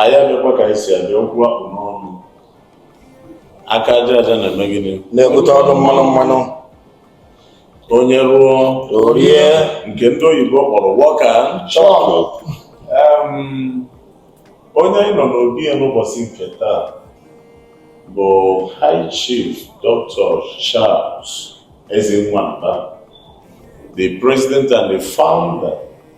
anyị abịakwa ka anyị si abịa okwu a kpụ n'ọnụ aka aja aja na-eme gịnị na-ebute ọnụ mmanụ mmanụ onye rụọ o rie nke ndị oyibo kpọrọ work and chop onye anyị nọ n'obi ya n'ụbọchị nke taa bụ high chief dr charles ezenwa mba the president and the founder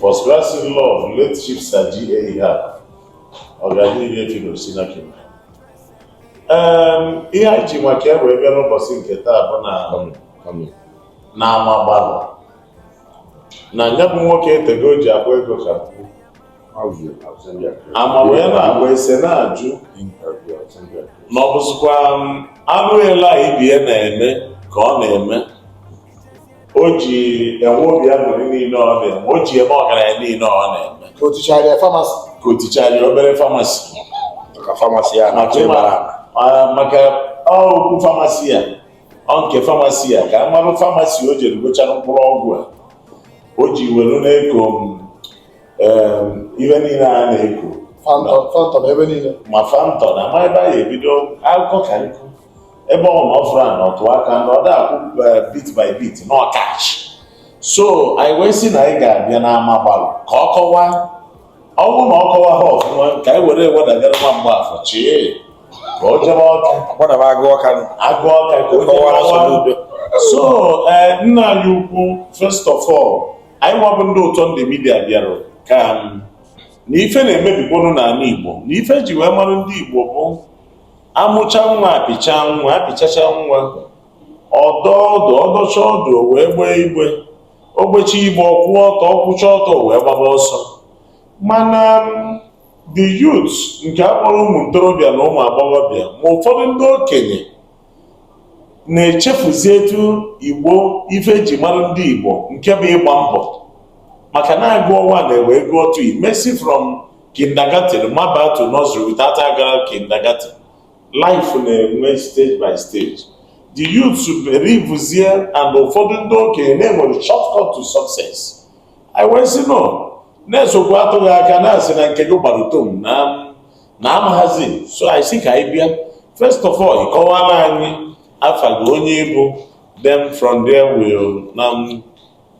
First class in-law of late Chief Sir G.A. Ihab, ọganihu efi na osinaki. Em, ihe anyị ji maka ya wee bịa n'ụbọsị nke taa bụ na Kọmị, kọmị. na ama gbalụ na ya bụ nwoke etego o ji akpa ego ka mkpu ama wee na-agba ese na-ajụ na ọ bụzikwa anụ ele a ibie na-eme ka ọ na-eme o ji enwe obi aṅụrị niile ọ na-eme o ji eme ọgaranya niile ọ na-eme ka o tichara obere pharmacy maka pharmacy ya maka okwu pharmacy ya nke pharmacy ya ka a mara pharmacy o jere gochara mkpụrụ ọgwụ a o ji were na-eko ihe niile a na-eko ma phantom ma ebe a ya ebido akụkọ ka nkụ ebe ọ na ọfụrụ a na ọtụ aka na ọ da-akwụ eh, bit by bit na ọkachi so anyị wee sị na anyị ga-abịa n'ama gbalụ ka ọ kọwaa ọ bụrụ na ọ kọwa ha ọfụma ka anyị were wedagara nwa mgbafọ chee ka o jebe ọka gbadaba agụ ọka nụ. agụ ọka ka o jebe Kọwara ọka. Soludo. so eh, nna anyị ukwu first of all anyị nwa bụ ndị ụtọ ndụ media bịara ka na ife na-emebikwanụ n'ana igbo na ife e ji wee mara ndị igbo bụ a mụcha nwa a pịcha nwa a pịchacha nwa ọ dọ ọdụ ọ dọcha ọdụ o wee gbee igbe o gbecha igbe ọ kwụ ọtọ ọ kwụcha ọtọ o wee gbaba ọsọ mana the youth nke a kpọrọ ụmụ ntorobịa na ụmụ agbọghọbịa ma ụfọdụ ndị okenye na-echefuzi etu igbo ife e ji mara ndị igbo nke bụ ịgba mbọ maka na a gụọ one wee gụọ two ị ma esi from kindergarten maba to nursery without aga kindergarten life na-enwe stage by stage the youths believezie and ụfọdụ ndị okenye na e nwere shortcut to success i wee sị no na eziokwu atụghị aka na-asị na nke gị gbara utom na amaghazi so anyị sị ka anyị bịa first of all ị kọwara anyị afa gị onye ị bụ then from there we'll now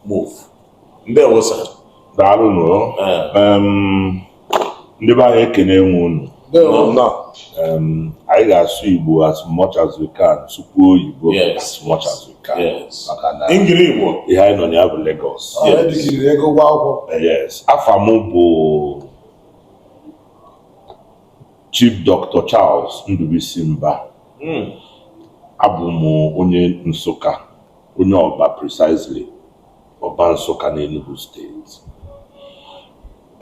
move ndewo sir daalụ nụ ndị be anyị ekene nwe unu anyị ga-asụ Igbo as much as we can sụkwuo oyibo as much as we can maka na ihe anyị nọ na ya bụ Lagos yes afa m bụ Chief Dr. Charles Ndubuisi Mba hmm. abụ m onye Nsụka onye Ọrba precisely Ọrba Nsụka n'Enugu State.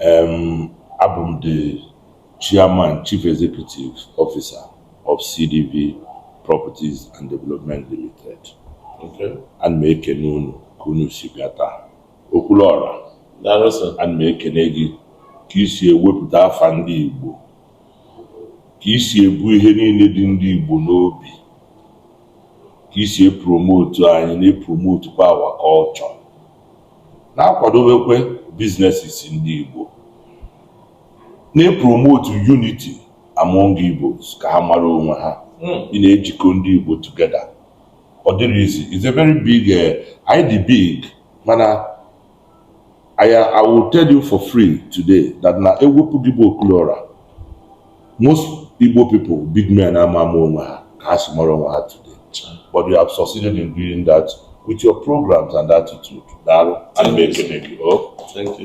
Um, abụ m the chairman chief executive officer of CDV Properties and Development Limited. Okay. Ana m ekene unu ka unu si bịa taa. Okwuluọra. Daalụ sir. Ana m ekene gị ka i si ewepụta afa ndị Igbo ka i si ebu ihe niile dị ndị Igbo n'obi ka i si epromotu anyị na-epromotu kwa our culture na-akwadobekwe businesses ndị Igbo na-epromotu unity among Igbos ka ha mara onwe ha hmm. ị na-ejikọ ndị Igbo together ọ dịrọ easy is a very big eh, anyị dị big mana I, I will tell you for free today that na ewepụ gị bụ Okwuluọra most Igbo people big men ama ama onwe ha ka ha si mara onwe ha today but you have succeeded in doing that with your programs and attitude daalụ ana m ekele gị o oh.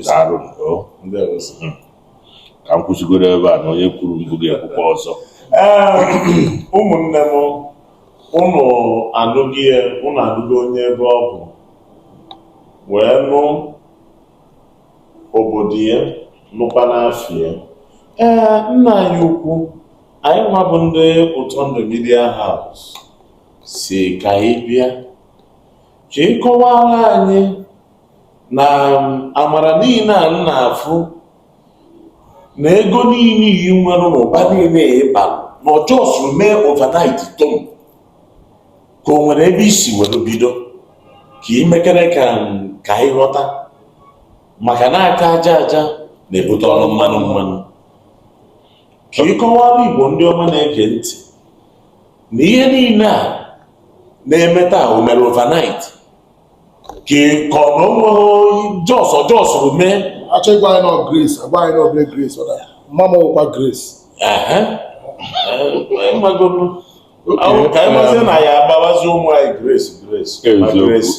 daalụ oh. hmm. ka m kwụsịgoro ebe a na onye kwuru mbụ ga-ekwukwa ọzọ ụmụnne m unu anụgo ya unu anụgo onye ebe ọ bụ wee nụ obodo ya nụkwanụ afa ya ee nna anyị ukwu anyị nwa bụ ndị Ụtọndụ Media House sị ka anyị bịa ka ị kọwara anyị na amara niile a na-afụ na ego niile i nwere ụba niile ị ba na ọ just mee overnight tom ka o nwere ebe i si were bido ka ị mekere ka ka anyị ghọta maka na aka aja aja na-ebute ọnụ mmanụ mmanụ ka ị kọwara igbo ndị ọma na-ege ntị na ihe niile a na-eme taa o mere overnight ka ị kọ na o nweghị just just mee a chọọ ịgwa anyị na ọ grace agwa anyị nọ obere grace ọ na mma m ọkwa grace ehe ị magonu ka anyị mazi na ya agbawazi ụmụ anyị grace grace ma grace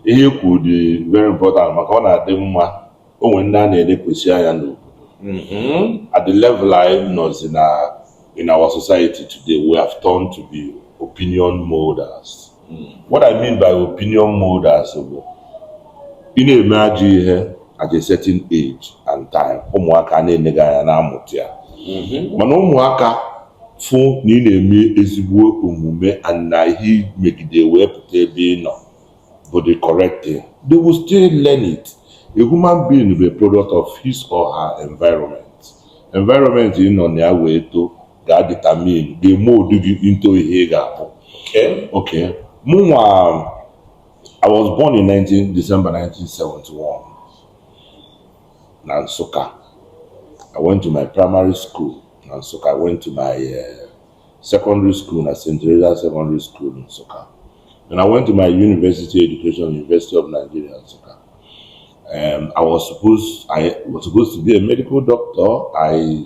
ihe i kwu dị very important maka ọ na-adị mma o nwere ndị a na-elekwasị anya n'obodo mm-hmm. at the level anyị nọzi na in our society today we have turned to be opinion molders What I mean by opinion molders bụ ị na-eme ajọ ihe at a certain age and time ụmụaka na-ene gị anya na-amụta ya mm-hmm. mana ụmụaka fụ na ị na-eme ezigbo omume and na ihe megide wee pụta ebe ị nọ bụ the correct thing they will still learn it a human being bụ a product of his or her environment environment ị nọ na ya wee too ga-determine ga-mold gị into ihe ị ga-abụ Okay. okay mụnwa I was born in 19 December 1971 na Nsụka I went to my primary school na Nsụka I went to my uh, secondary school na St. Teresa Secondary School in Nsụka and I went to my university education University of Nigeria Nsụka um, I was supposed I was supposed to be a medical doctor I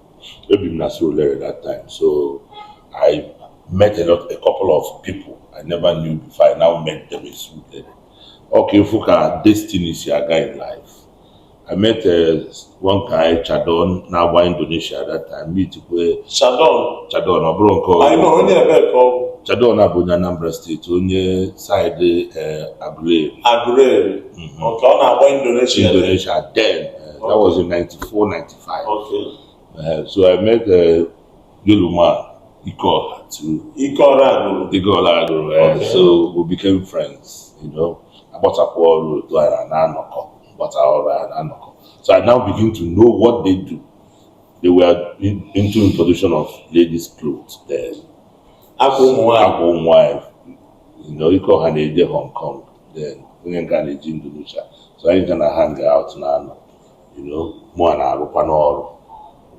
Ebi m na Surulere that time so I met a lot a couple of people I never knew before I now met them in Surulere. Okay, ifu ka destiny si aga in life. I met uh, one guy, Chadon, now by Indonesia at that time. Meet where Chadon. Chadon, I brought call. I know only a call. Chadon abụ na Anambra steeti onye saịdị eh, Aguleri. Aguleri. Mhm. Okay, ọ na-agba Indonesia. Indonesia then. Uh, that was in 94, 95. Okay. Uh, so I met uh, Yoluma Ikora too. Ikora Aguru. Ikora Aguru. Uh, okay. So we became friends, you know. Agbatakwa ọrụ otu anyị na na-anọkọ, gbata ọrụ anyị na-anọkọ. So I now begin to know what they do. They were in, into production of ladies' clothes then. Akwa ụmụ nwanyị. Akwa ụmụ nwanyị. You know, Ikora na-eje Hong Kong then. Onye nka na-eje Indonesia. So anyị ga na hang out now. mụa na-arụkwa n'ọrụ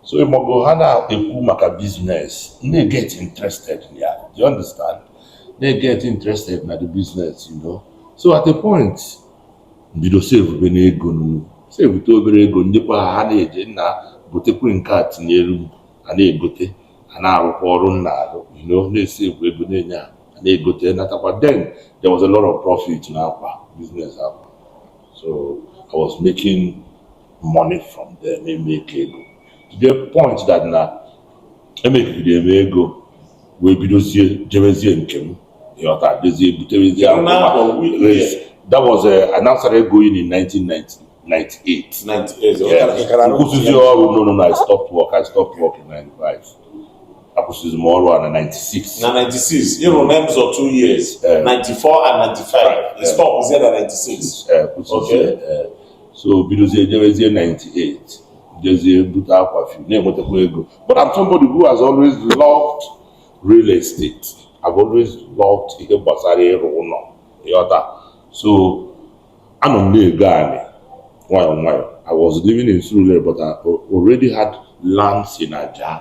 so ị ma oge ha na-ekwu maka biznes na-eget interested na ya do you understand na-eget interested na the business you know so at a point m bido savebenụ ego savete obere ego nyekwa ha ha na-eje nna gotekwe nke a tinyelu a na-egote a na-arụkwa ọrụ m na-arụ you know na-esave ego na-enye ha na-egote natakwa then there was a lot of profit n'akwa business akwa so I was making money from there na-emake ego to the point that na emakegide m ego wee bidozie jebezie nke m ịghọta jezie buterezie akwa that was uh, I now started going in 1990 98. 98. Yeah. M kwụsịzi ọrụ no no no I stopped work I stopped work in 95. akwụsịzi m ọrụ a na 96 na 96 ị rụ na Emzor 2 years 94 and 95 stopuzie na 96 kwụsịzie so bidozie jebezie 98 jezie bute akwa fi na-enwetakwa ego but I'm somebody who has always loved real estate I've always loved ihe gbasara ịrụ ụlọ ịghọta so anọ m na-ego anị nwayọ nwayọ I was living in Surulere but I already had lands in Ajah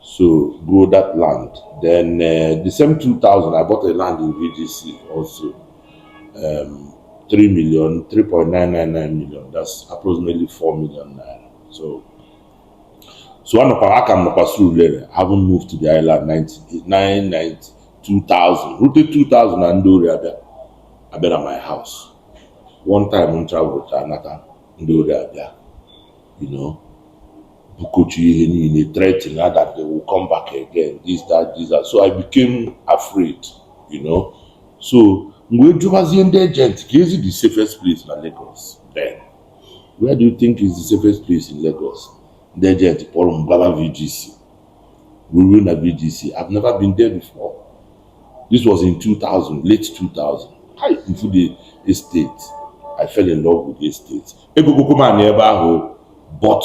so grow that land then uh, the same 2000 i bought a land in vdc also um, 3 million 3.999 million that's approximately 4 million naira so so one of our akam nọkwa surulere haven't moved to the island 99 2000 rute 2000 na ndị ori abịa abịa na my house one time m travel to anata ndị ori abịa you know bukochi ihe niile threaten her that they will come back again this that this that so i became afraid you know so mgbe jụbazie ndị agent ka ezi the safest place na Lagos then where do you think is the safest place in Lagos ndị agent kpọrọ m gbaba VGC ruru na VGC I've never been there before this was in 2000 late 2000 I mfu the estate I fell in love with the estate egogokwu m anị ebe ahụ but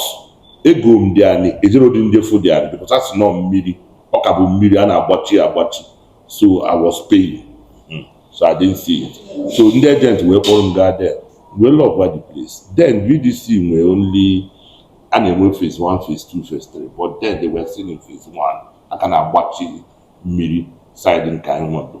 ego m the anị ejero dị m je fụ the anị because ọ nọ mmiri ọ ka bụ mmiri a na-agbachi agbachi so I was paying hmm, so I didn't see it so ndị agent wee kpọrọ m gaa there wee love the place then VGC nwee only a na-enwe phase one phase two phase three but then they were still in phase one a ka na-agbachi mmiri side nke anyị nwado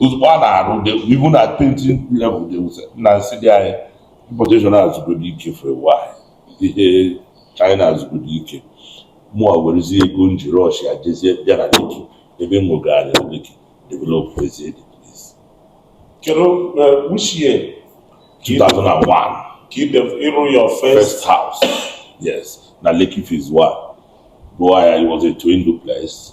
ozugbo a na-arụ even na painting level they will sell na m sị dị anyị importation azụgodo ike for a while ihe china azụgodo ike mụa werezi ego m ji rọshia jezie bịa na Lekki ebe m nwegara Lekki developuzie the place kedu which year 2001 ka ide ịrụ your first first house yes na Lekki phase 1 rụọ ya it was a twin duplex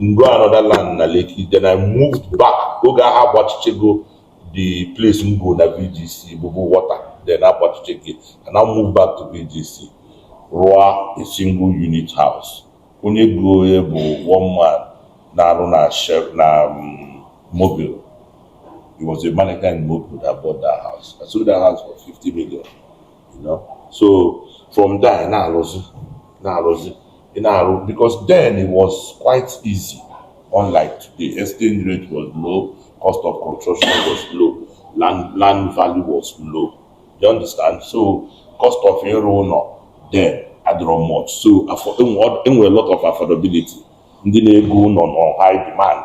m go another land na Lekki then I moved back oge ahụ agbachichego the place m go na VGC bụbu water then agbachichezi and I moved back to VGC rụọ a single unit house onye go ya bụ one man na-arụ na Shell na um, Mobil he was a manager in Mobil that bought that house I sold that house for 50 million you know so from there na-arụzi na-arụzi ị na-arụ because then it was quite easy unlike today exchange rate was low cost of construction was low land land value was low you understand so cost of ịrụ ụlọ then adịrọ much so enwere lot of affordability ndị na-ego ụlọ nọ high demand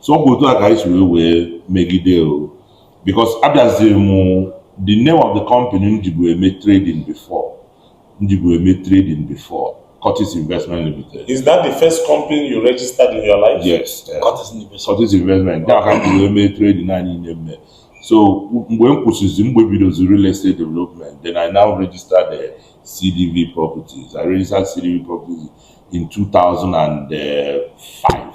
so ọ bụ otu a ka anyị si wee wee megide o because abịaziri m the name of the company m jibu eme trading before m jibu eme trading before Curtis Investment Limited. Is that the first company you registered in your life? Yes. Uh, Curtis Investment. Curtis Investment. Nke a ka m jibu eme trading a niile m me. So mgbe m kwụsịzi mgbe m bidozi real estate development then I now registered the CDV properties. I registered CDV properties in 2005.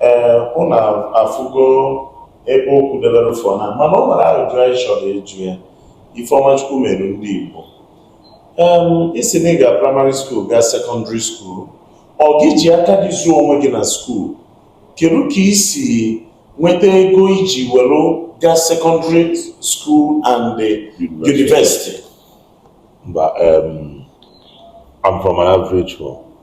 ee ụnụ afụgo ebe okwu debere for now mana ọ nwere ajụjụ anyị chọrọ ịjụ ya ife ọma Chukwu mere ndị Igbo ị sị na ị ga praịmarị skuul gaa sekọndịrị skuul ọ gị ji aka gị zụọ onwe gị na skuul kedu ka i si nweta ego i ji were gaa sekọndịrị skuul and the university mba I'm from an average home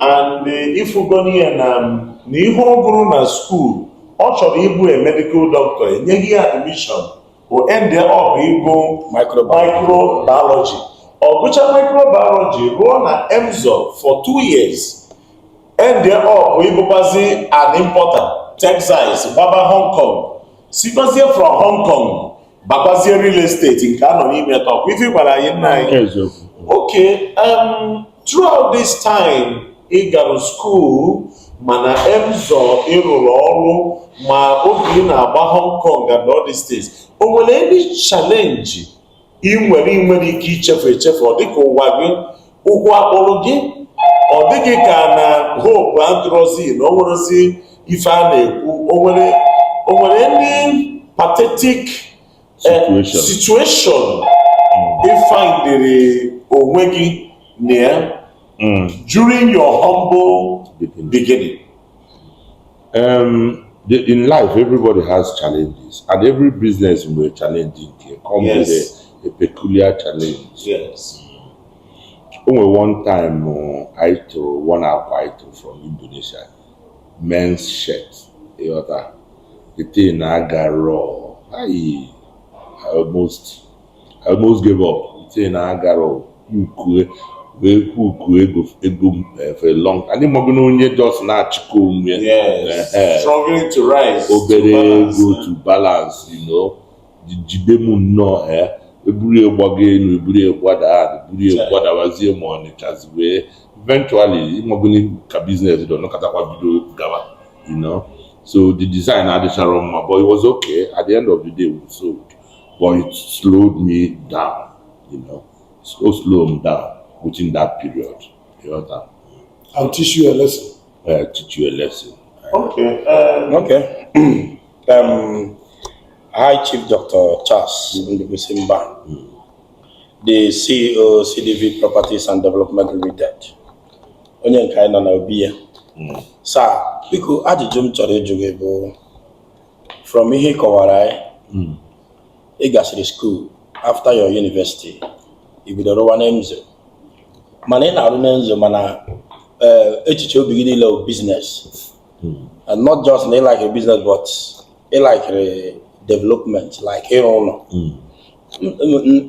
and eh, ị fụgonị ya na na ihe ọ gụrụ na skuul ọ chọrọ ịbụ a medical doctor enyeghị ya admission o end up ịgụ microbiology ọ gụcha microbiology rụọ na Emzor for two years end up ịbụkwazi an importer textiles gbaba Hong Kong sikwazie from Hong Kong bakwazie real estate nke a nọ n'ime taa ọ kwa ife ị gwara anyị nna anyị eziokwu okay um, throughout this time ị gara skuul ma na Emzor ị rụrụ ọrụ ma mgbe ị na-agba Hong Kong and all these things o nwere any challenge ị nwere ị nwerọ ike ichefu echefu ọ dịka ụwa gị ụkwụ akpụrụ gị ọ dị gị ka na hope adịrọzi na o nwerezi ife a na-ekwu o nwere o nwere any pathetic eh, situation ị findịrị onwe gị na ya hmm. during your humble beginning. Um, the, in life, everybody has challenges, and every business will be challenging. Come yes. with a, a peculiar challenge. Yes. O nwere one time anyị tụ one akwa anyị tụ from Indonesia men's shirt ị ghọta the thing agarọ I I almost I almost gave up the thing agarọ ukue wee kwu uku ego ego m eh, for a long time and ị mago na onye just na-achịkọ onwe ya Yes. Eh, eh. Struggling to rise. to obere balance, ego eh. to balance you know jide m nnọọ ee e buru ya gbago elu e buru ya gbada ala e buru ya gbadabazie ma ọ nọchazi wee eventually ị magonụ ka business dị ọ nọkatakwa bido gaba you know so the design adịchara mma but it was okay at the end of the day we sold but it slowed me down you know so slow m down within that period you know that I'll teach you a lesson. uh, teach you a lesson Okay. Um, Okay. Um, High Chief Dr. Charles Ndubuisi Mba, the CEO CDV Properties and Development Limited, onye nke anyị nọ na obi ya. Sir, biko ajụjụ m chọrọ ịjụ gị bụ from ihe ị kọwara anyị, ị gasịrị school after your university, ị bidoro rụwa na Emzor. Mana ị na-arụ na Emzor mana eh, echiche obi gị niile bụ business. hmm. and not just na ị like business but ị likere development like ịrụ ụlọ hmm.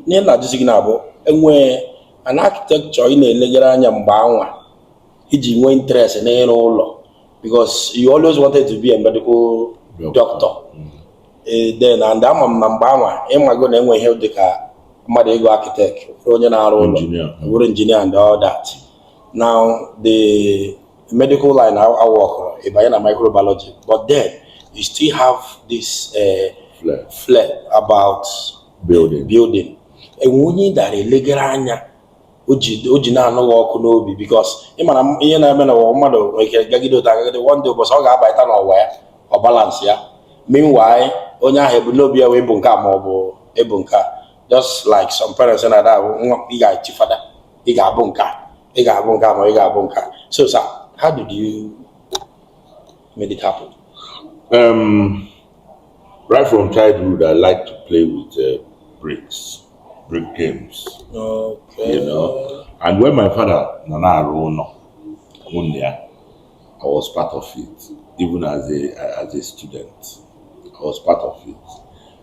ihe m na-ajụzi gị now bụ e nwee an architecture ị na-elegara anya mgbe anwa i ji nwee interest n'ịrụ ụlọ because you always wanted to be a medical doctor hmm. eh, then and ama m na mgbe anwa ị mago na e nwe ihe dị ka mmadụ ịgụ architect onye na-arụ ụlọ wụrụ engineer and all that now the medical line aworkịrọ, ị banye na microbiology, but then you still have this uh, flair. flair about building. building. E nwee onye ị na-elegere anya o ji na-anụ gị ọkụ n'obi because ị mara ihe na-eme na ụwa mmadụ nwere ike gagide ụta gagide one day ụbọchị ọ ga-abaịta n'ụwa ya ọ balance ya meanwhile onye ahụ ebumnobi ya wee bụ nke a ma ọ bụ ịbụ nke a just like some parents na-ada ahụ nwa ị ga-echi fada ị ga-abụ nke a ị ga-abụ nke a ma ị ga-abụ nke a so sir how did you make it happen? Um, right from childhood, I like to play with uh, bricks, brick games. Okay. You know, and when my father nọ na-arụ ụnọ, mụ na ya, I was part of it, even as a as a student. I was part of it.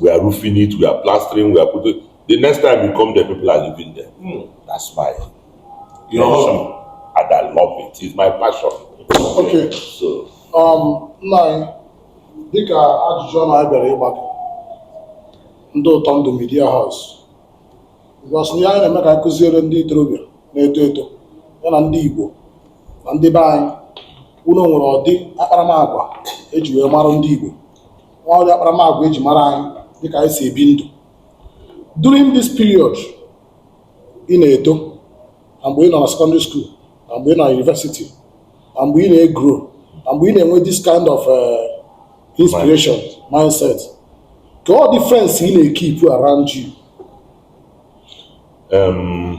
we are roofing it we are plastering we are putting the next time you come there people are living there mm, that's my you know and I love it it's my passion okay so um nna anyị dịka ajụjụ ọnụ anyị bịara ịgbakọ ndị ụtọ ndụ media house because ihe anyị na-eme ka anyị kụziere ndị ntorobịa na-eto eto ya na ndị igbo na ndị be anyị unu nwere ụdị akparamagwa eji wee mara ndị igbo nwere ụdị akparamagwa eji mara anyị dịka anyị si ebi ndụ during this period ị na-eto na mgbe ị nọ na secondary school na mgbe ị nọ na university na mgbe ị na-egrow na mgbe ị na-enwe this kind of eh, inspiration mindset kee ụdị friends ị na-ekeep around you Em,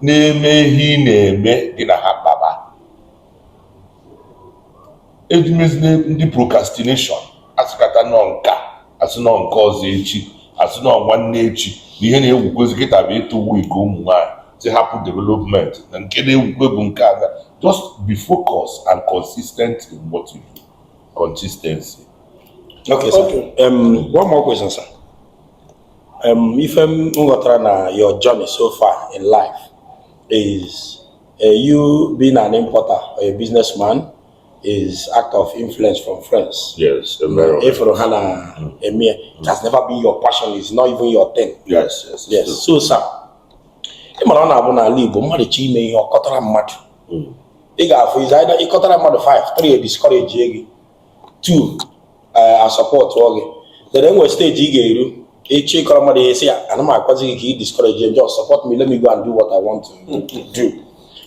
na-eme ihe ị na-eme gị na ha kpaba ejimezile ndị procrastination asịkata na ọ nke a asị na ọ nke ọzọ echi asị na ọ nwanne echi na ihe na-ewukwezi kịta bụ ịtụ wig ụmụ nwaanyị sị hapụ development na nke na-ewukwe bụ nke aga just be focused and consistent in what you do consistency Okay, sir. Okay. Um, one more question, sir. Um, ife m ghọtara na your journey so far in life is uh, you being an importer or a businessman is act of influence from friends. Yes, a very ị fụrụ ha na mm. eme ya, it has never been your passion, it's not even your thing. Yes, yes. Yes, true. so sir, ị mara ọ na-abụ n'ala Igbo mmadụ chọọ ime ihe ọ kọtara mmadụ mm. ị ga-afụ is either ị kọtara mmadụ 5 3 ediscourage gị 2 eh, asupportuo gị then enwere stage ị ga-eru ị chọọ ịkọrọ mmadụ ihe ị sị ya ana m agwazi gị ka ị discourage ya just support me let me go and do what I want to do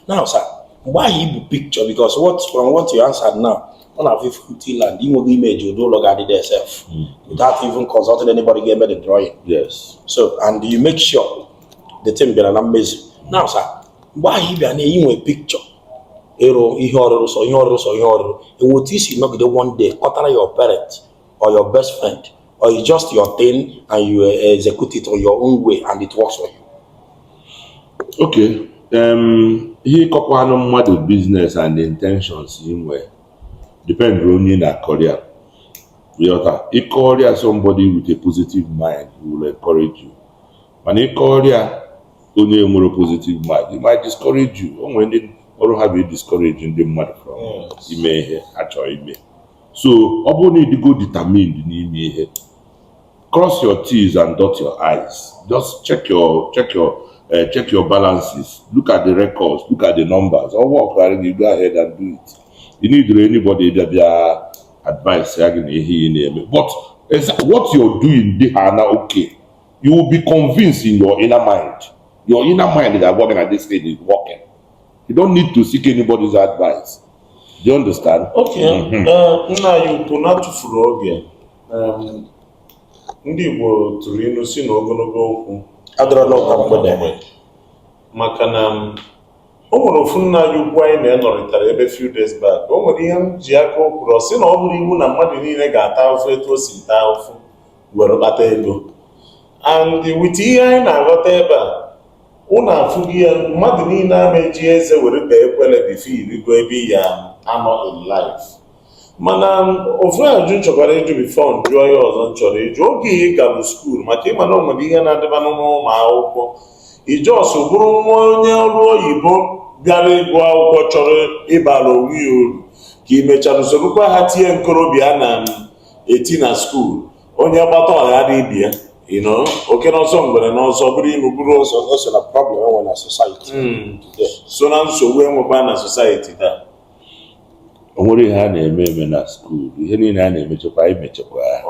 now sir mgbe ahụ ị bu picture because what from what you answered now ọ na-abụ ị fụ empty land ị nwego image ụdị ụlọ ga-adị there sef without even consulting anybody ga-eme the drawing yes so and you make sure the thing bịara na mmezu now sir mgbe ahụ ị bịa na-enwe picture ịrụ ihe ọrụrụ sọ ihe ọrụrụ sọ ihe ọrụrụ enwe etu i si nọgide one day kọtara your parent or your best friend or it's just your thing and you eh, execute it on your own way and it works for you. okay um, ihe ịkọkwanụ mmadụ business and intentions ị nwere depend onye ị na-akọrịa ị ghọta ị kọrịa somebody with a positive mind will encourage you mana ị kọrịa onye nwere positive mind it might discourage you o nwere ndị ọrụ ha bụ discourage ndị mmadụ from ime ihe ha chọrọ ime so ọ bụrụ na ị dịgo determined n'ime ihe cross your T's and dot your I's just check your check your uh, check your balances look at the records look at the numbers ọ workara gị go ahead and do it you need anybody bịa bịa adviceịa gị na ihe ị na-eme but what you're doing dị ha na okay you will be convinced in your inner mind your inner mind ga-agwa gị na this thing is working you don't need to seek anybody's advice do you understand okay mm-hmm. uh, nna anyị ukwu n'atụfurọ oge um, ndị Igbo tụrụ ilu sị na ogologo okwu adịrọ n'ụka mgbede maka na um, o nwere ofu nna anyị ukwu anyị na ya nọrịtara ebe few days back o nwere ihe m ji aka o kwuru ọ sị na ọ bụrụ iwu na mmadụ niile ga-ata ahụfụ etu o si taa ahụfụ were kpata ego and with ihe anyị na-aghọta ebe a ụnụ afụgo ya na mmadụ niile ama eji eze were bee ekwele bifo i rigo ebe ị ya-anọ in life mana ofu ajụjụ m chọkwara ịjụ bifo m jụọ ya ọzọ m chọrọ ịjụ oge ị gara skuul maka ị ma na o nwere ihe na-adịba n'ụmụ akwụkwọ ị just bụrụ nwa onye ọrụ oyibo bịara ịgụ akwụkwọ chọrọ ịbara onwe ya uru ka i mechara sorokwa ha tie nkorobịa na eti na skuul onye gbata ọya dị ibe ya you know oke n'ọsọ ngwere n'ọsọ bụrụ inu bụrụ ọsọ ọ so na problem enwe na society hmm. so na nsogbu enwekwa na society taa o nwere ihe a na-eme eme na skuul ihe niile a na-emechekwa i mechekwa ya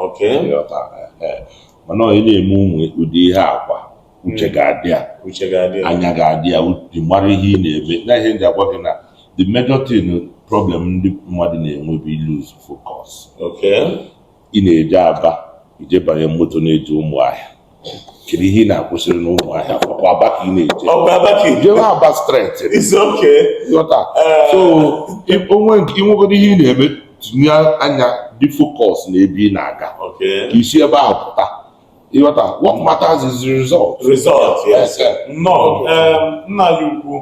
mana onye na-eme ụmụ ụdị ihe a kwa uche hmm. ga-adị ya anya ga-adị ya uche mara ihe ị na-eme na ihe ndị agwa gị na the major thing problem ndị mmadụ na-enwe bụ ịlose focus ị na-eje Aba i jee banye moto na-eje Ụmụahịa kedu ihe ị na-akwụsịrị n'Ụmụahịa ọ kwa Aba ka ị na-eje jewe Aba straight eh. so i nwegodo ihe ị na-eme tinye anya dị focus na ebe ị na-aga ka i si ebe ahụ pụta ị ghọta what matters is the result result yes nnọọ nna anyị ukwu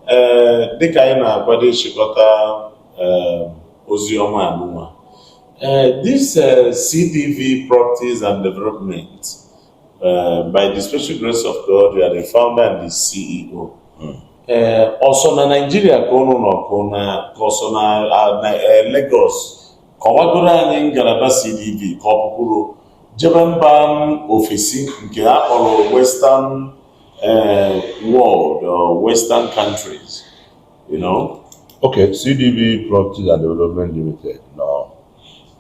ee dịka anyị na-akwado ịchịkọta ozi ọma anụnwa Uh, this uh, CDV Properties and Development, uh, by the special grace of God, you are the founder and the CEO. Hmm. ọ sọ na Nigeria ka ụnụ nọ ka ọ sọ na Lagos Kọwagoro anyị ngalaba CDV ka ọ pụkwuru jebe mba ofesi nke a kpọrọ Western eh, world or Western countries, you know? Okay, CDV Properties and Development Limited nọ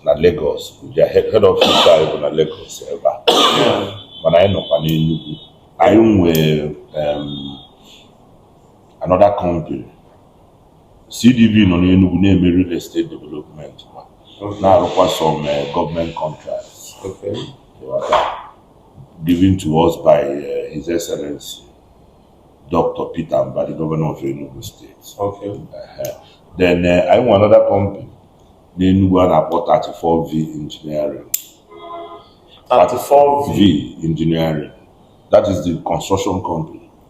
na Lagos, their head head office anyị bụ na Lagos ebe a. Mana anyị nọkwa n'Enugu. Anyị nwee um, another company CDV nọ n'Enugwu na-eme real estate development na-arụkwa some eh, government contracts Okay. Ghọta. given to us by eh, His Excellency Dr. Peter Mbah, the governor of Enugu State. Okay. Ehe. Then eh, anyị nwe another company n'Enugwu a na-akpọ 34V Engineering. 34 V. V Engineering. That is the construction company.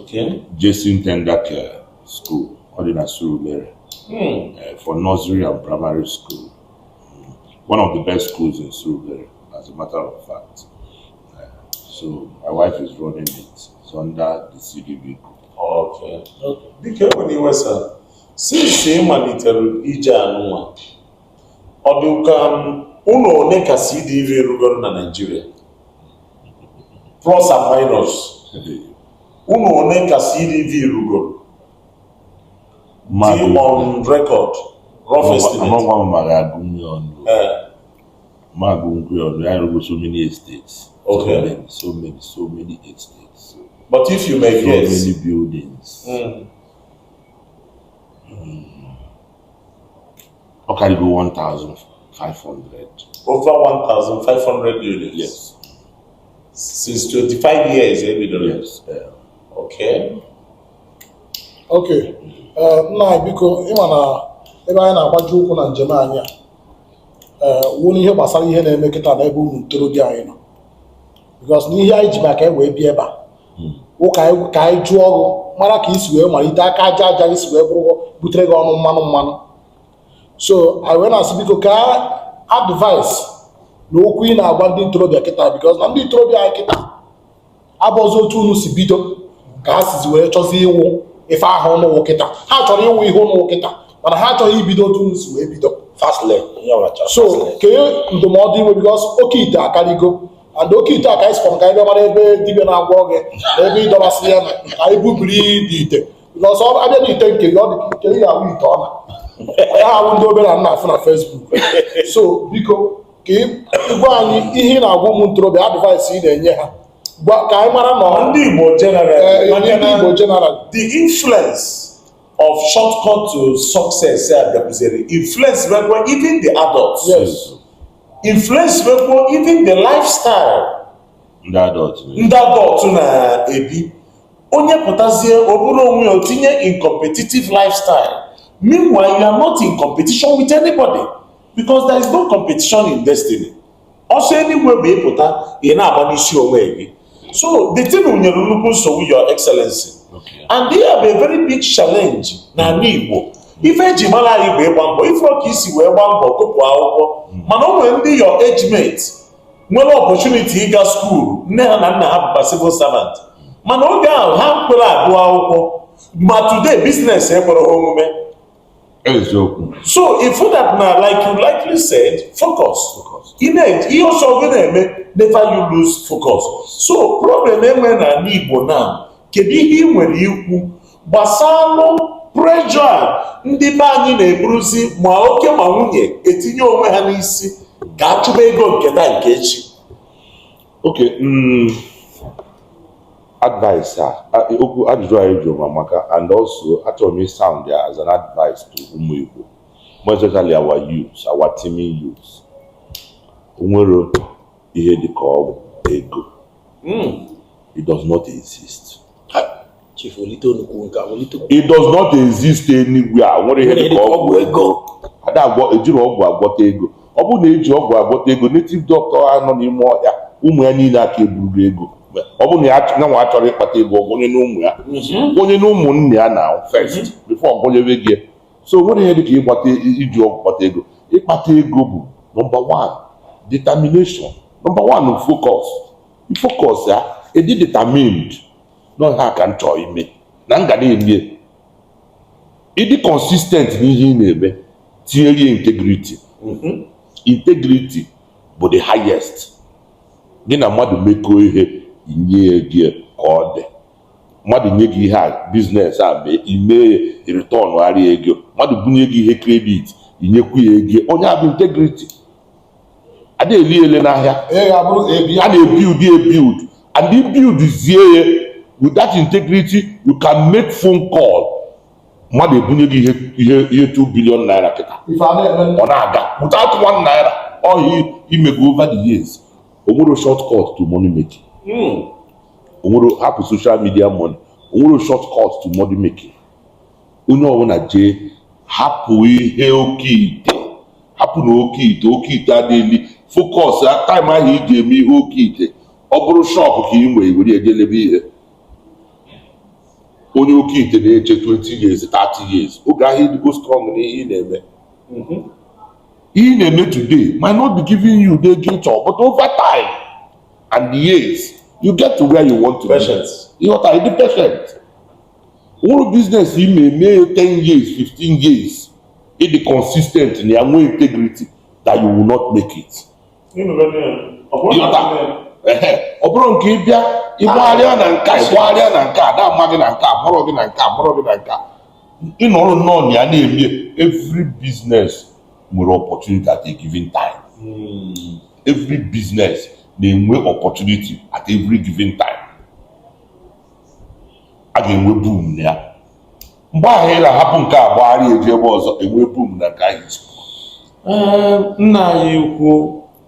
Okay. Jason Tender Care School, ọ dị na Surulere, Hmm. eh, for nursery and primary school. Mm. One of the best schools in Surulere, as a matter of fact. Eh, so my wife is running it. It's under the CDV group. Okay. Okay. Dịka e nwere iwe sa, since ị malitere ije anụnwa, ọ dị ka ụlọ one ka CDV rụgoro na Naịjirịa? plus and minus ụnọ one ka CDV rụgoro dị on record rough estimate amakwa m ma m ga-agụnwu ya ọnụ Eh, ma agụnwu ya ọnụ anyị arụgo so many estates so Okay. many so many so many estates so but if you may guess many buildings mm, Ọ karịgo 1,500. Over 1,500 units? Yes. Since 25 years e bidoro? Yes. Yeah. Okay. Okay. Eh, nna biko ị ma na ebe anyị na-agbaji ụkwụ na njem anyị a eh, wụ n'ihe gbasara ihe na-eme kịta na ebe ụmụ ntorobịa anyị nọ because n'ihe anyị ji maka e wee bịa ebe a hmm. wụ ka anyị jụọ gị mara ka i si wee malite aka aja aja i si wee bụrụ butere gị ọnụ mmanụ mmanụ so anyị wee na-asị biko kee advice na okwu ị na-agwa ndị ntorobịa kịta because na ndị ntorobịa anyị kịta abụọzi otu unu si bido ka ha sizi wee chọzi ịwụ ife ahụ unu wụ kịta ha chọrọ ịwụ ihe unu wụ kịta mana ha achọghị ibido otu unu si wee bido so kee ndụmọdụ i nwe because oke ite akarịgo and oke ite a ka anyị sịkwa ka anyị bịa mara ebe dibịa na-agwọ gị na ebe ịdọbasị ya na ka anyị bubiri dị ite n'ọsọ abịa na ite nke gị ọ dị ka ite ị ga-ahụ ite ọla ya ahụ ndị obere m na-afụ na Facebook so biko ka ị gwa anyị ihe ị na-agwa ụmụ ntorobịa advice ị na-enye ha ka anyị mara na ndị Igbo general eh, eh, ndị Igbo general the influence of shortcut to success a bịakwuzere influence rekwa even the adults yes influence bekwu even the lifestyle ndị adult ndị adult na-ebi onye pụtazie o buru onwe ya o tinye in competitive lifestyle meanwhile you are not in competition with anybody because there is no competition in destiny ọsọ eluigwe bụ ị pụta ị na-agba n'isi onwe gị so the thing nyere nnukwu nsogbu your excellency and they have a very big challenge n'ala Igbo ife eji mara anyị bụ ịgba mbọ ị fụrọ ka i si wee gbaa mbọ gụpụ akwụkwọ hmm. mana o nwere ndị your age mate nwere opportunity ịga school nne ha na nna ha bụkwa civil servant mana oge ahụ ha ekwerọ agụ akwụkwọ ma today business ekwerọ ha omume eziokwu so if that na like you rightly said focus in ihe ọ sọ gị na-eme never you lose focus so problem e nwe na ala Igbo now kedu ihe ị nwere ikwu gbasalụ pressure ndị be anyị na-eburuzi ma oke ma nwunye etinye onwe ha n'isi ka a chụba ego nke taa nke echi okay mm, advice a a- okwu ajụjụ a ị jụrụ m amaka and also achọrọ m ịsound ya as an advice to ụmụ Igbo more especially our youth our teeming youth o nwerọ ihe dị ka ọgwụ ego Mm. it does not exist it does not exist anywhere nwerọ ihe dịka ọgwụ ego ada agwọ ejiri ọgwụ agwọta ego ọ bụrụ na e ji ọgwụ agwọta ego native doctor a nọ n'ime ọhịa ụmụ ya niile aka eburugo ego ọ bụrụ na ya nwa chọrọ ịkpata ego ọ gwọnyenụ ụmụ ya mhm. gwọnyenụ ụmụ nne ya na first mhm. before ọ gwọnyebe gị so nwerọ ihe dịka ịgbata iji ọgwụ kpata ego ịkpata ego bụ number one determination number one focus focus yeah ị dị determined na ọ ihe a ka m chọọ ime na m ga na-eme ị dị consistent n'ihe ị na-eme tinyere integrity mm-hmm. integrity bụ the highest gị na mmadụ mekọọ ihe inye gị ka ọ dị mmadụ nye gị ihe a business a mee i mee i return gharịa ego mmadụ bunye gị ihe credit i nyekwu ya ego ọ nya bụ integrity adịghị ele ele n'ahịa a na-ebuild ebuild and ibuild zie ya with that integrity you can make phone call mmadụ ebunye gị ihe ihe 2 billion naira kịta ọ na-aga without one naira ọ ihe imego over the years onwere short cut to money making hmm. onwere hapụ social media money onwere short cut to money making onye ọbụla jee hapụ ihe oke ite hapụ na oke ite oke ite adịghị focus time ahụ iji eme ihe oke ite ọ bụrụ shop ka ị nwee were jee lebe ihe onye oke ite na-eche 20 years 30 years oge ahụ ịdịgo strong na ihe ị na-eme mm-hmm. ihe ị na-eme today might not be giving you the gain ịchọ but over time and years you get to where you want to be. Patience. ịdị patient. nwerọ business ị na-eme ya 10 years 15 years ịdị consistent na ya nwee integrity that you will not make it ọ bụrụ nke ịbịa ịgbagharịa na nka ịgbagharịa na nka ada ama gị na nka mụrụ gị na nka mụrụ gị na nka ịnọrọ nnọọ na ya na-eme every business nwere opportunity at a given time hmm. every business na-enwe opportunity at every given time a ga-enwe boom na ya mgbe ahụ ị na-ahapụ nke a gbagharịa jee ebe ọzọ enwe boom na nke ahụ ee nna anyị ukwu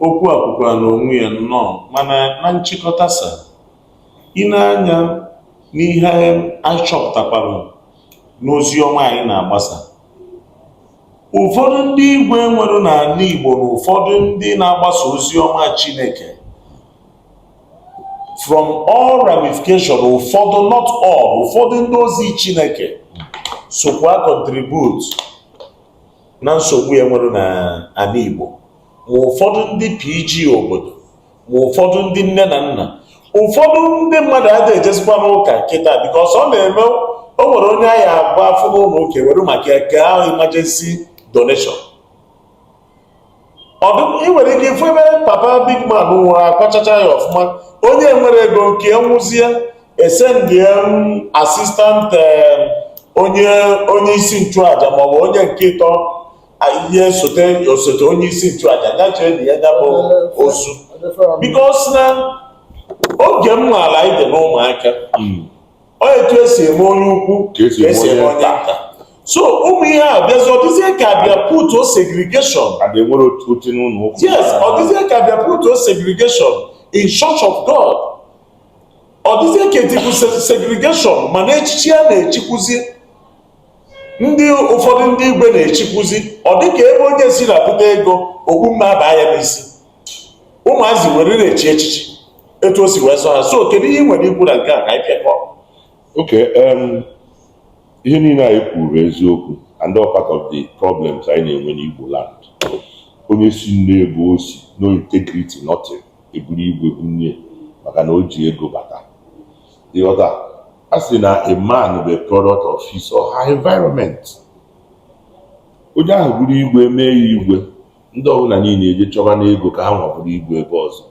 okwu a kwukwara n'onwe ya nnọọ mana na nchịkọta sir ị nee anya n'ihe anyị chọpụtakwara n'ozi ọma anyị na-agbasa ụfọdụ ndị igwe enwere n'ala Igbo na ụfọdụ ndị na-agbasa ozi ọma Chineke from all ramification ụfọdụ not all ụfọdụ ndị ozi Chineke sokwa contribute na nsogbu a enwere na ala Igbo ma ụfọdụ ndị PG obodo ma ụfọdụ ndị nne na nna ụfọdụ ndị mmadụ adịghị ejezikwa n'ụka kịta because ọ na-eme o nwere onye anyị agba afọ n'ụlọ ụka were maka ya kee ahụ emergency donation ọ dị ị nwere ike ifu ebe papa big man nwụrụ akwachacha ya ọfụma onye enwerọ ego nke nwụzie esendie asistant eh, onye onye isi nchụaja maọbụ onye nke ịtọ ihe sote osote onye isi nchụaja ga-eje nie ya bụ ozu because na oge m maala anyị dị n'ụmụaka hmm. ọ etu esi eme onye ukwu ka esi eme onye nta so ụmụ ihe a bịazi ọdịzie ka bịa put o segregation enwere otu n'ụlọ ụka yes ọdịzie ka bịa put o segregation in church of god ọdịzie ka etikwu segregation mana echichi a na-echikwuzi ndị ụfọdụ ndị igwe na-echikwuzi ọ dịka ebe onye si na-ebute ego okpu mme abaa ya n'isi ụmụazị ewere na-echi echichi etu o si wee sọ ha so kedu ihe ị nwere ikwu na nke a ka anyị pịakọ okay ihe niile anyị kwuru bụ eziokwu and all part of the problems anyị na-enwe n'Igbo land onye si n'ebe o si no integrity nothing eburu igwe bunye maka na o ji ego bata ịghọta a sị na a man bụ a product of his or her environment onye ahụ eburu igwe mee ya igwe ndị ọbụla niile eje chọba n'ego ka ha nwa bụrụ igwe ebe ọzọ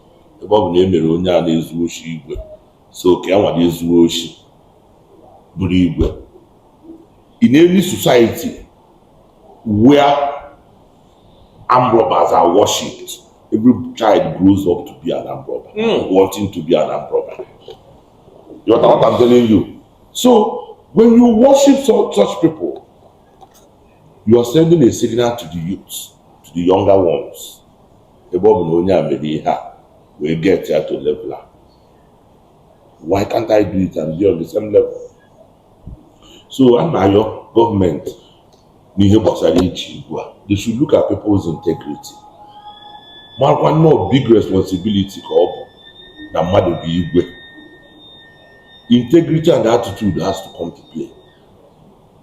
ebe ọ bụ na e mere onye a na-ezu oshi igwe so ka ya nwa jee zuo oshi bụrụ igwe in any society where armed robbers are worshipped every child grows up to be an armed robber mm. wanting to be an armed robber you understand what i'm telling you so when you worship such people you are sending a signal to the youth to the younger ones ebe ọ bụ na onye a mere ihe a wee get ya to level a why can't I do it and be on the same level so a na-ayọ government n'ihe gbasara ichi igwe a they should look at people's integrity marakwa na ọ big responsibility ka ọ bụ na mmadụ bụ igwe integrity and attitude has to come to play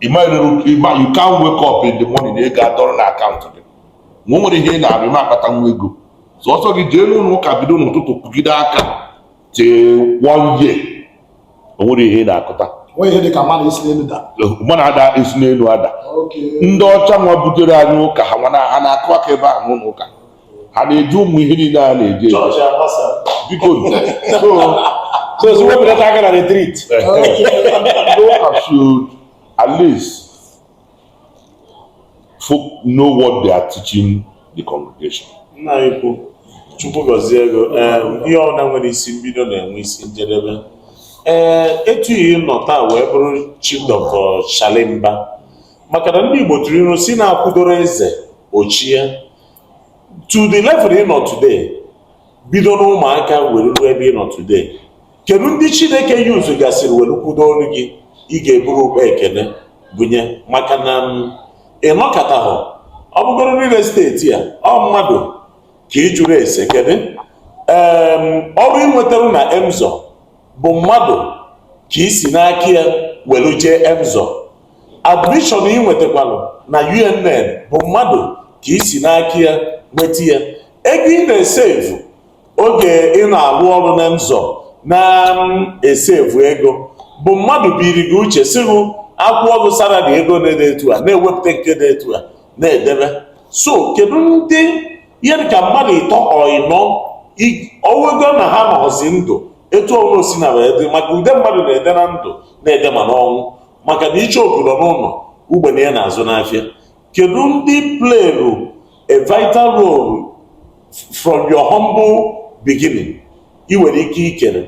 ịma you can't wake up in the morning na ego adọrọ na account gị ma o nwere ihe ị na-arụ ma akpata nwa ego sọsọ gị jee n'ụlọ ụka bido n'ụtụtụ kụgide aka tee one year o nwere ihe ị na-akụta manna ada esi n'elu ada ndị ọcha nwa butere anyị ụka ha nwa na-akụ aka ebe ahụ n'ụlọ ụka ha na-eji ụmụ ihe niile a na-eji eji chọọchị agbasa biko so so wepụta aka na retreat ndị ụka should at least folk know what they are teaching the congregation nna anyị ukwu chukwu gọzie gị o ee ihe ọbụla nwere isi mbido na-enwe isi njedebe ee etu ihe nọ taa wee bụrụ chief doctor charley mba maka na ndị igbo tụrụ ilu sị na akwụdoro eze ochie to the level ị nọ today bido n'ụmụaka were ruo ebe ị nọ today kedu ndị chineke use gasịrị were kwudo ọrụ gị ị ga-eburu ụkpa ekene bunye maka na mm, ị nọkata hụ ọ bụgoro real estate a ọ mmadụ ka ị jụrụ ese kedu ọrụ i nwetara na Emzor bụ mmadụ ka i si n'aka ya were jee Emzor Admission ị nwetakwalụ na UNN bụ mmadụ ka i si n'aka ya nweta ya ego ị na-esevu oge ị na-arụ ọrụ na Emzor na-esevu ego bụ mmadụ biri gị uche sị gị a kwụọ gị salary ego na-ede etu a na-ewepụta nke dị etu a na-edebe so kedu ndị ihe dịka mmadụ ịtọ or ịnọ ọ bụgo na ha anọzi ndụ etu ọ bụ o sina wee dị maka ude mmadụ na-ede na ndụ na-ede ma n'ọnwụ maka na icheoku nọ n'ụlọ ugbene ya na-azụ n'afịa kedu ndị playrụ a vital role from your humble beginning ị nwere ike ikele eh,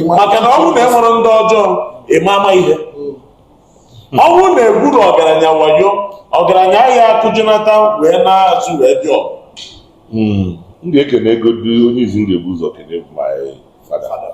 maka na ọnwụ na enwere ndị ọjọọ ịma ama ihe hmm. ọnwụ na-egburu ọgaranya wayo ọgaranya ya akụjinata wee na-azụ wee dị ọgụ hmm. m ga-ekenegodi onye izizi m ga-ebu ụzọ kene bụ my father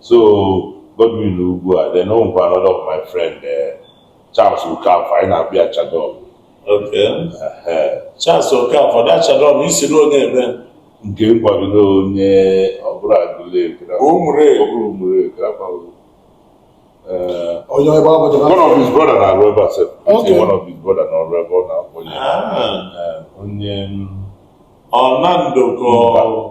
so Godwin Ugwu then o nwekwa another of my friend eh, Charles Okafor anyị na-akpọ ya Chadon Okay. Ehe. Charles Okafor that Chadon ị sịrị ọ onye ebe nke nkwagide onye ọbụla Aguleri Ụmụleri. ọbụla Ụmụleri akwaghị. Eh, onye ebe ọ bụla one of his brother na-arụ ebe a sef Okay. one of his brother na-arụ ebe ọ na-akpọ ya Ah, Eh, onye mm, Ọnando ka ọ-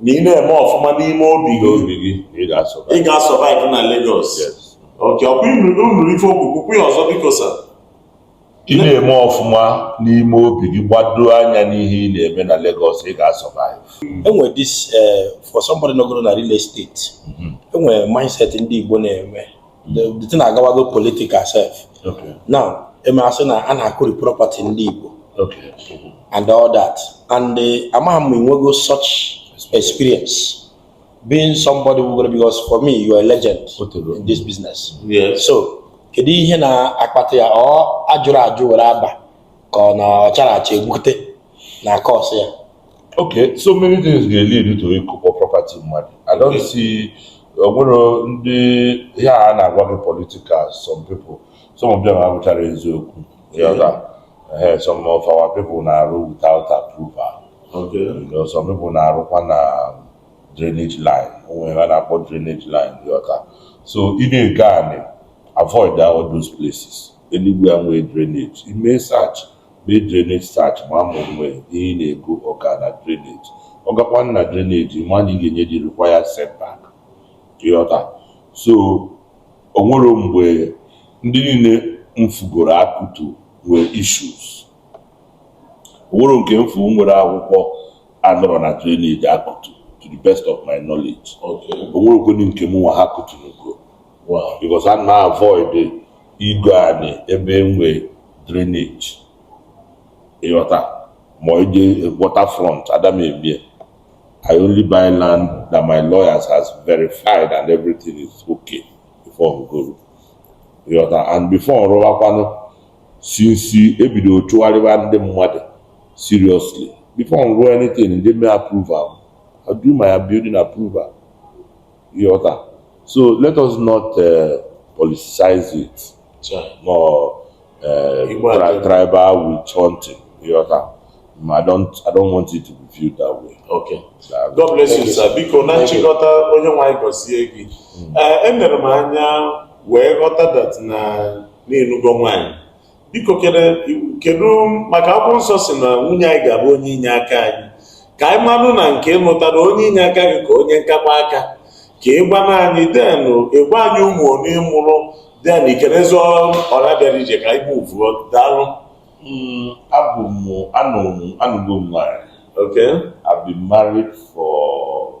na ị na-eme ọfụma n'ime obi gị obi gị ị ga-survive ị ga-survive na Lagos okay ọ kwa ị nụrụ ife o kwuru kwukwaa ya ọzọ biko sir ị na-eme ọfụma n'ime obi gị gbado anya n'ihe ị na-eme na Lagos ị ga-survive enwe this eh, for somebody nọgoro na real estate enwe mindset ndị Igbo na-eme the thing agawago political sef now e mee a sị na a na-akụri property ndị Igbo and all that and eh, amaghị m enwego such experience being somebody nọgoro na because for me you are a legend in this business so kedu ihe na-akpata ya ọ ajụrọ ajụ were aba ka ọ na ọ charọ acha egbute na-cause ya Okay, so many things ga lead to ịkụkpọ property mmadụ. I don't see o nwere ndị ihe a na-agwa gị political some people some of them abụcharọ eziokwu ị ghọta Ehe, some of our people na-arụ without approval Okay. You know, some people na-arụkwa na drainage line o nwe ihe a na-akpọ drainage line ị ghọta so ị na-ego anị avoid all those places anywhere e nwee drainage i mee search Mee drainage search maa ma o nwe ihe ị na-ego ọ ga na drainage. Ọ gakwa na drainage, ị ma na ị ga-enye the required setback. Ịghọta? So, o nwere mgbe ndị niile m fụgoro a kụtu nwere issues. O nwere nke m fụ nwere akwụkwọ anọrọ na drainage a kụtu to the best of my knowledge. Okay. O nwerekwanụ nke mụnwa ha kụtunugo. because ana m avoid igo anị ebe e nwe drainage ịghọta ma ije water front ada m eme ya I only buy land that my lawyers has verified and everything is okay before m goo ịghọta and before m rụwakwanụ since e bido chụgharịba ndị mmadụ seriously before m rụọ anything m jee mee approval I do my building approval ịghọta so let us not uh, politicize it ma uh, tribal witch hunting ịghọta ma I don't, I don't want it to be viewed that way. Okay. God bless you, sir. Biko na nchịkọta onye nwe anyị gọzie gị. Hmm. Eh, Enere m anya wee ghọta that na ị nụgo nwaanyị biko kedu maka akwụkwọ nsọ sị na nwunye anyị ga-abụ onye inye aka anyị ka anyị manụ na nke ị nụtara onye inye aka gị ka onye nkakwa aka ka ị gwana anyị then ị gwa anyị ụmụ ole ị mụrụ then i kelezie ọra bịara ije ka anyị muvuo daalụ hmm, abụ m anụgo m nwanyị okay I've been married for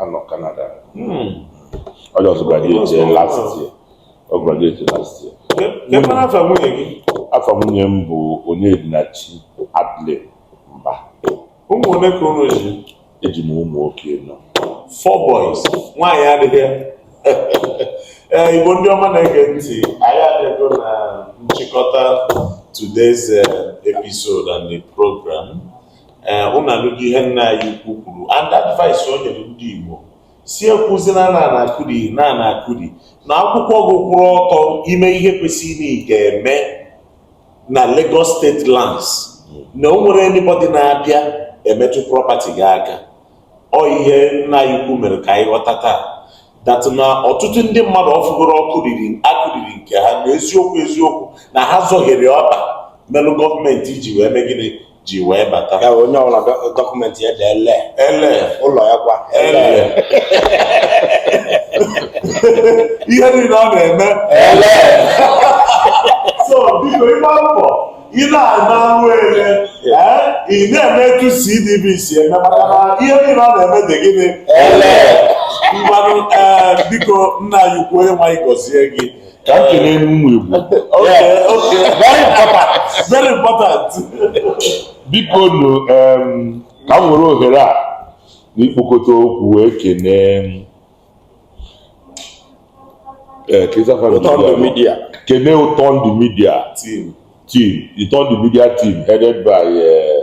anọ Canada hmm. onye ọzọ graduate last year ọ graduate last year afa nwunye gị afa nwunye m bụ Onyedinachi Adline Mba ụmụ ole ka unu ji eji m ụmụ nwoke anọ four boys nwaanyị adịghị ee Igbo ndị ọma na-ege ntị anyị adịgo na nchịkọta today's eh, episode and the program ee eh, ụnụ anụgo ihe nna anyị ukwu kwuru and advice o nyere ndị Igbo sị ekwuzina na a na-akụri na a na-akụri na akwụkwọ gị kwụrụ ọtọ i mee ihe kwesịrị ị ga-eme na Lagos State lands na o nwere anybody na-abịa emetụ property gị aka ọ ihe nna anyị ukwu mere ka anyị ghọta taa that na ọtụtụ ndị mmadụ ọ fụgoro a kụriri a kụriri nke ha na eziokwu eziokwu na ha zọhiere ọkpa melụ gọọmenti ji wee mee gịnị ji wee bata ya bụ onye ọbụla dọ- dọkụmentị ya dị ele ele ụlọ ya kwa ele ihe niile ọ na-eme ele so biko ị gba mbọ ị na-ana anwụ ele ee, ị na-eme etu CDB si eme maka na ihe niile ọ na-eme dị gịnị ele mmanụ ee biko nna anyị ukwu onye nwe anyị gọzie gị ka m kelee ụmụ Igbo very important very important biko nụ ka m were ohere a n'ikpokọta okwu wee kenee eh, kenee Ụtọndụ Media team Ụtọndụ Media team headed by eh,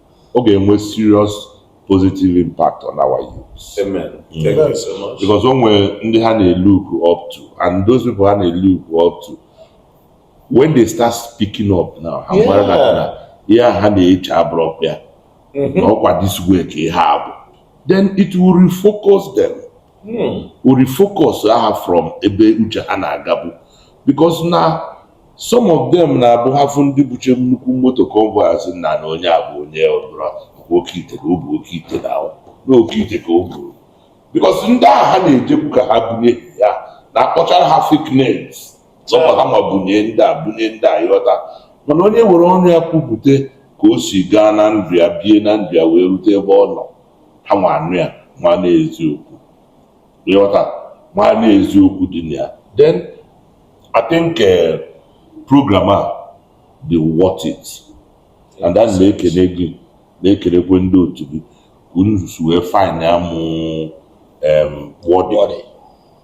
ọ ga-enwe serious positive impact on our youth Amen. Mm. Thank you so much. because o nwere ndị ha na-look up to and those people ha na-look up to when they start speaking up now ha Yeah. mara na na ihe a ha na-eche abụrọkwa ya Mhm. na ọkwa this way ka ihe a bụ then it will refocus them o refocus ha from ebe uche ha na-agabu because na some of them na-abụ ha fụ ndị buche nnukwu moto convoy a sị na na onye a bụ onye ọbụla bụ oke ite ka o bu oke ite na ahụ na oke ite ka o buru because ndị ahụ ha na-ejekwu ka ha bunye ha na-akpọchara ha fake names zọkwa ha ma bunye ndị a bunye ndị a ịghọta mana onye were ọnụ ya kwupụta ka o si gaa na ndụ ya bie na ndụ ya wee rute ebe ọ nọ ha nwa anụ ya ma na eziokwu ịghọta ma na eziokwu dị na ya then I think eh, program a dị worth it and ana m ekene gị na-ekenekwe ndị otu gị ka unu si wee find ya mụ em, worthy Worthy.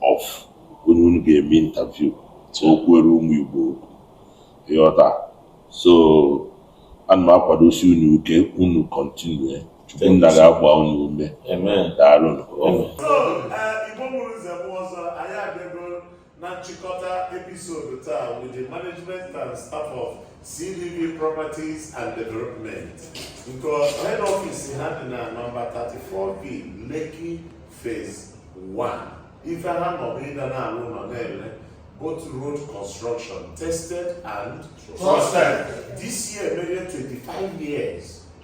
of onye unu ga-eme interview ka o kwuere ụmụ Igbo okwu. ịghọta so ana m akwadosi unu ike unu continue Chukwu nna ga-agba unu ume daalụ Igbo mụrụ nze mụọ ọzọ anyị abịago na nchịkọta episode taa with the management and staff of CDV Properties and Development nke head office ha dị na nọmba 34B Lekki Phase 1 ife ha nọ bụ ịga na-alụ ụnọ na-ele both road construction tested and trusted this year mere 25 years